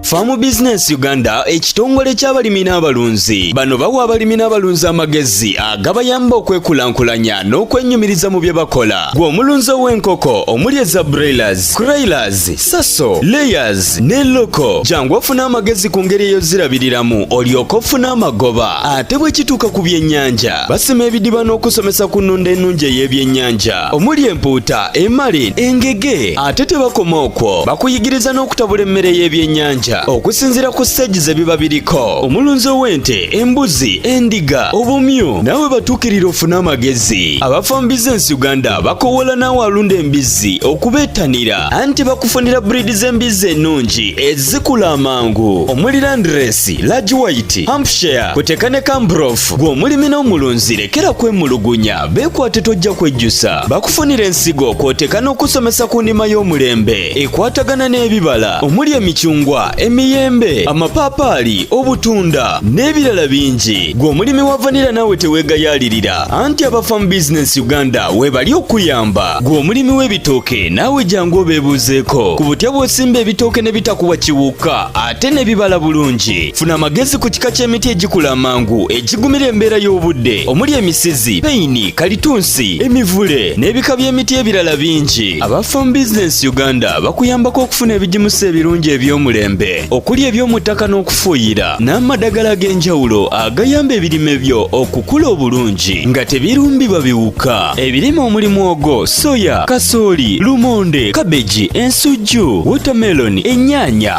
Farm Business Uganda ekitongole ky'abalimi n'abalunzi bano bawa abalimi n'abalunzi amagezi agabayamba okwekulaakulanya n'okwenyumiriza mu bye bakola gwe omulunzi ow'enkoko omuli eza broilers, croilers, saso, layers ne loko jangu ofuna amagezi ku ngeri eyozirabiriramu olyoka ofuna amagoba ate bwe kituuka ku byennyanja basima ebidiba n'okusomesa ku nnunda ennungi ey'ebyennyanja omuli empuuta emali engege ate tebakoma okwo bakuyigiriza n'okutabula emmere y'ebyennyanja okusinziira ku siteegi ze biba biriko omulunzi ow'ente embuzi endiga obumyu naawe batuukirira ofune amagezi abafa mu bizinensi uganda bakowoola naawe alunda embizzi okubeettanira anti bakufunira buriidi z'embizzi ennungi ezikula amangu omuli landiresi lagi wayiti hampshire kuteka ne kambrof gw'omulimi n'omulunzi lekera kwemulugunya Beekwate tojja kwejjusa bakufunira ensigo kw'oteeka n'okusomesa ku nnima y'omulembe ekwatagana n'ebibala omuli emicungwa emiyembe amapaapaali obutunda n'ebirala bingi gwe omulimi wa vanira naawe teweegayaalirira anti abafamu bizinensi uganda weebali okuyamba gwe omulimi w'ebitooke naawe jangu obeebuuzeeko ku butya bw'osimba ebitooke ne bitakuwa kiwuka ate ne bibala bulungi funa amagezi ku kika ky'emiti egikula amangu egigumira embeera y'obudde omuli emisizi peyini kalitunsi emivule n'ebika by'emiti ebirala bingi aba farm business uganda bakuyambako okufuna ebigimusa ebirungi eby'omulembe okuli eby'omu ttaka n'okufuuyira n'amadagala ag'enjawulo agayamba ebirime byo okukula obulungi nga tebirumbibwa biwuka ebirime omuli mwogo soya kasooli lumonde kabeji ensujju wotameloni ennyaanya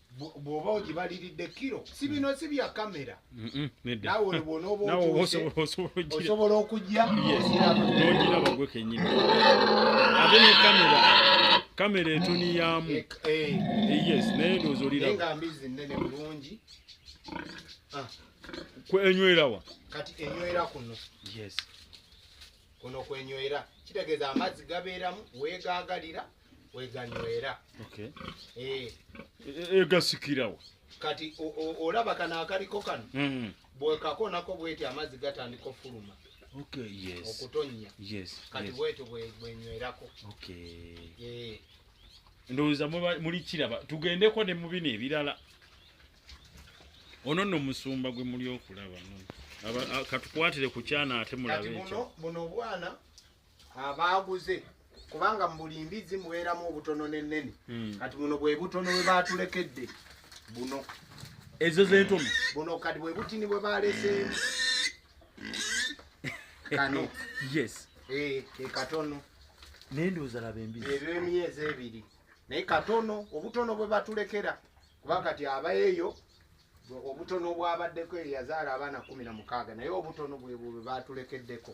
bwoba ogibaliridde kiro si bino si bya kamera nawe olibwona oba osobola okujja ogirabagwe kenyini ate ne kamera kamera etuniyamu eh, eh. Eh, yes naye ndoozi oliraba mbizi nene bulungi ah. enywerawa kati enywera kuno yes kuno kwenywera kitegeeza amazzi gabeeramu weegaagalira weganywera okay. e, e, egasikirawo kati olaba kano akaliko kano mm. bwekakonako bweti amazzi gatandika ofuluma okay, yes. okutonya yes, kati yes. bwetyo bwenywerako okay. e. ndowooza muli kiraba tugendeko ne mubino ebirala ono no musumba gwe muli okulaba katukwatire ku kyana ate mulabe ekyo buno obwana abaaguze kubanga mu buli mbizzi mubeeramu obutono n'ennene hmm. kati buno bwe butono bwe baatulekedde buno ezo z'entono buno kati bwe butini bwe baaleseemu kano yes eh, ke katono naye ndowooza laba embizi ebyo emyezi ebiri naye katono obutono bwe batulekera kuba kati abaeyo obutono bwabaddeko eyazaala abaana kumi na mukaaga naye obutono bwebwe batulekeddeko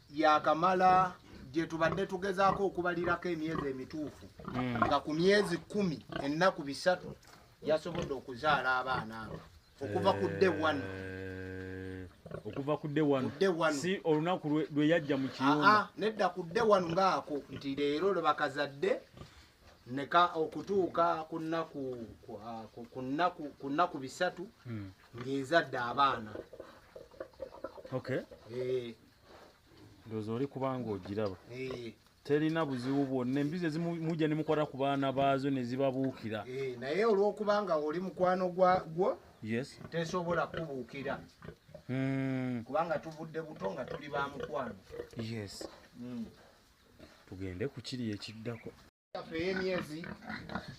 yakamala gye tubadde tugezaako okubalirako emyezi emituufu hmm. nga ku myezi kumi ennaku bisatu yasobodde okuzaala abaana abo okuva ku dde wano eh, okuva ku dde wano si olunaku lwe yajja mu kiyumba ah, ah, nedda ku dde wano ngaako nti leero lwe bakazadde neka okutuuka ku nnaku ah, ku nnaku bisatu hmm. ng'ezadde abaana okay. e, ndoza oli kubanga ogiraba eh. terina buzibu bwonna embizi ezimujja ne mukwata ku baana baazo ne zibabuukira eh, naye olw'okubanga oli mukwano gwagwo yes tesobola kubuukira hmm. kubanga tuvudde buto nga tuli ba mukwano yes hmm. tugende ku kiri ekiddako yaffe ey'emyezi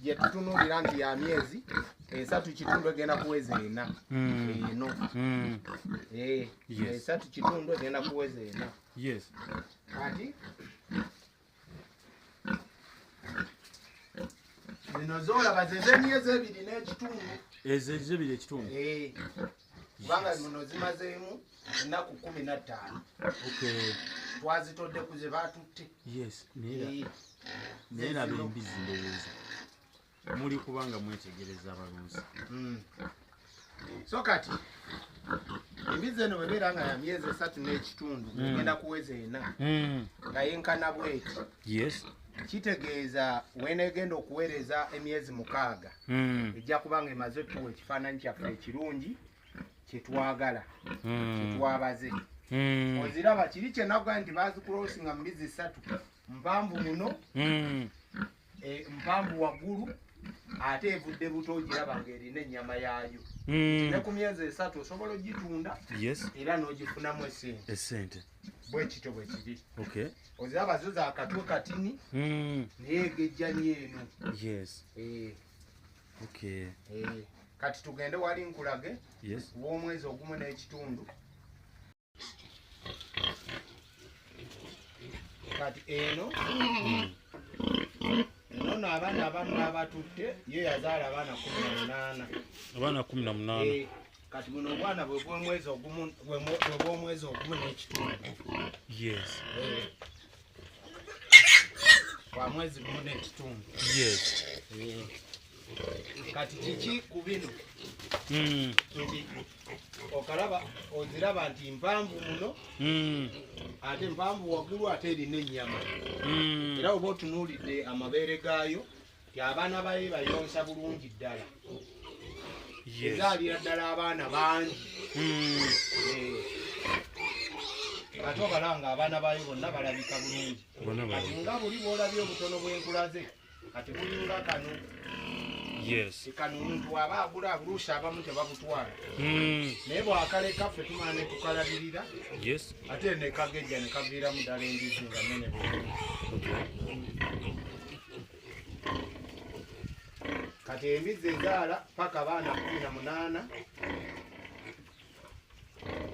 gye tutunuulira nti ya myezi esatu kitundu egenda kuweza ena hmm. eno hmm. eh, esatu kitundu egenda kuweza ena kati zino zolaba zezemyezi ebiri n'ekitundu ezo ezo ebiri ekitundu eh. kubanga muno zimazeemu ennaku kumi na ttaano twazitodde ku ze baatutte naye laba embizi ndowooza muli kubanga mwetegereza abalunzi hmm. so kati embizi eno webeera nga ya myezi esatu n'ekitundu hmm. egenda kuweza ena hmm. nga yenkana bweti kitegeeza wenegenda okuweereza emyezi mukaaga hmm. ejja kuba nga emaze otuwa ekifaananyi kyaffe ekirungi kyetwagala hmm. kyetwabaze hmm. oziraba kiri kyenaga nti bazikulosinga mu mbizi ssatu mpanvu muno e, mpanvu waggulu ate evudde buto ogiraba nga erina ennyama yaayo ne ku myezi esatu osobola ogitunda era n'ogifunamu esente bwekityo bwekiri okay. oziraba zo za katwe katini mm. naye egejjani eno yes. eh. okay. eh. kati tugende wali nkulage yes. womwezi ogumu n'ekitundu kati eno mm. nono abaana abamu abatutte ye yazaala abaana kumi na munaana abaana kumi na munaana eh. kati buno obwana bwebwomwezi ogumu bwebwomwezi ogumu nekitundu yes eh. kwa mwezi gumu nekitundu yes eh. kati kiki ku bino hmm. nti okalaba oziraba nti mpanvu muno hmm. ate mpanvu waggulu ate erina ennyama hmm. era oba otunuulidde amabeere gaayo nti abaana baye bayonsa bulungi ddala ezaalira ddala abaana bangi hmm. eh. ate obalanga abaana bayo bonna balabika bulungi kati nga buli bwolabye obutono bwenkulaze kati bulinga kano kano omuntu aba agula abuluusi abamu tebabutwala hmm. naye bwakaleka ffe tumala netukalabirira ate nekagejja nekaviiramu ddala endizi nga nene bulungi kati embizzi ezaala paka abaana kumi na munaana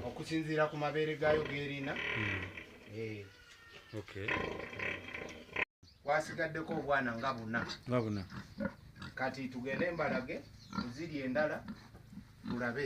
okusinziira ku mabeere gaayo gerina hmm. eh. kwasigaddeko obwana nga buna kati tugende embalage kuziri endala tulabe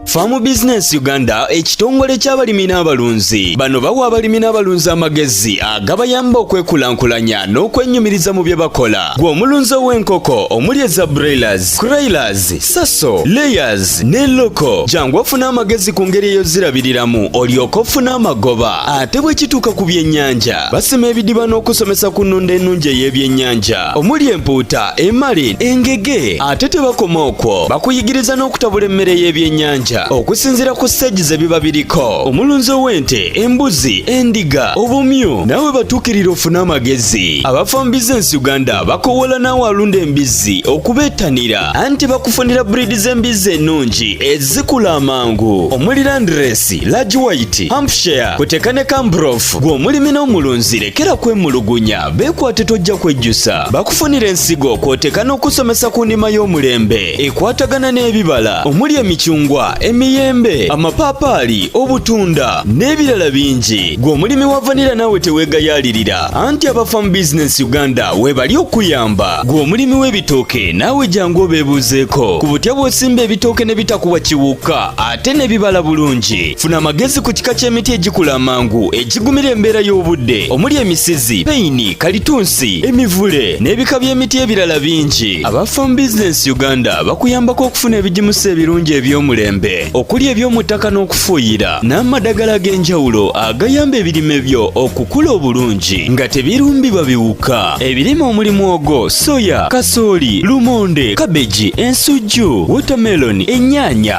Farm Business Uganda ekitongole ky'abalimi n'abalunzi bano bawa abalimi n'abalunzi amagezi agabayamba okwekulaakulanya n'okwennyumiriza mu bye bakola gwe omulunzi ow'enkoko omuli eza broilers croilers saso layers ne loko jangu ofune amagezi ku ngeri eyozirabiriramu olyoka ofuna amagoba ate bwe kituuka ku byennyanja basima ebidiba n'okusomesa ku nnunda ennungi ey'ebyennyanja omuli empuuta emali engege ate tebakoma okwo bakuyigiriza n'okutabula emmere y'ebyennyanja okusinziira ku siteegi ze biba biriko omulunzi ow'ente embuzi endiga obumyu nawe batuukirira ofune amagezi abafa mu bizinensi uganda bakowoola naawe alunda embizzi okubeettanira anti bakufunira buriidi z'embizzi ennungi ezikula amangu omuli landiresi lagi wayiti hampshire kuteka ne kambrof gw'omulimi n'omulunzi lekera kwemulugunya Beekwate tojja kwejjusa bakufunira ensigo kw'oteeka n'okusomesa ku nnima y'omulembe ekwatagana n'ebibala omuli emicungwa emiyembe amapaapaali obutunda n'ebirala bingi gwe omulimi wa vanira naawe teweegayaalirira anti abafa mu bizinensi uganda weebali okuyamba gwe omulimi w'ebitooke naawe jangu obeebuuzeeko ku butya bw'osimba ebitooke ne bitakuwa kiwuka ate ne bibala bulungi funa amagezi ku kika ky'emiti egikula amangu egigumira embeera y'obudde omuli emisizi peyini kalitunsi emivule n'ebika by'emiti ebirala bingi aba farm business uganda bakuyambako okufuna ebigimusa ebirungi eby'omulembe okuli eby'omu ttaka n'okufuuyira n'amadagala ag'enjawulo agayamba ebirime byo okukula obulungi nga tebirumbibwa biwuka ebirime omuli mwogo soya kasooli lumonde kabeji ensujju wotameloni ennyaanya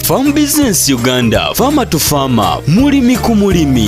Farm Business Uganda, Farmer to Farmer, mulimi ku mulimi.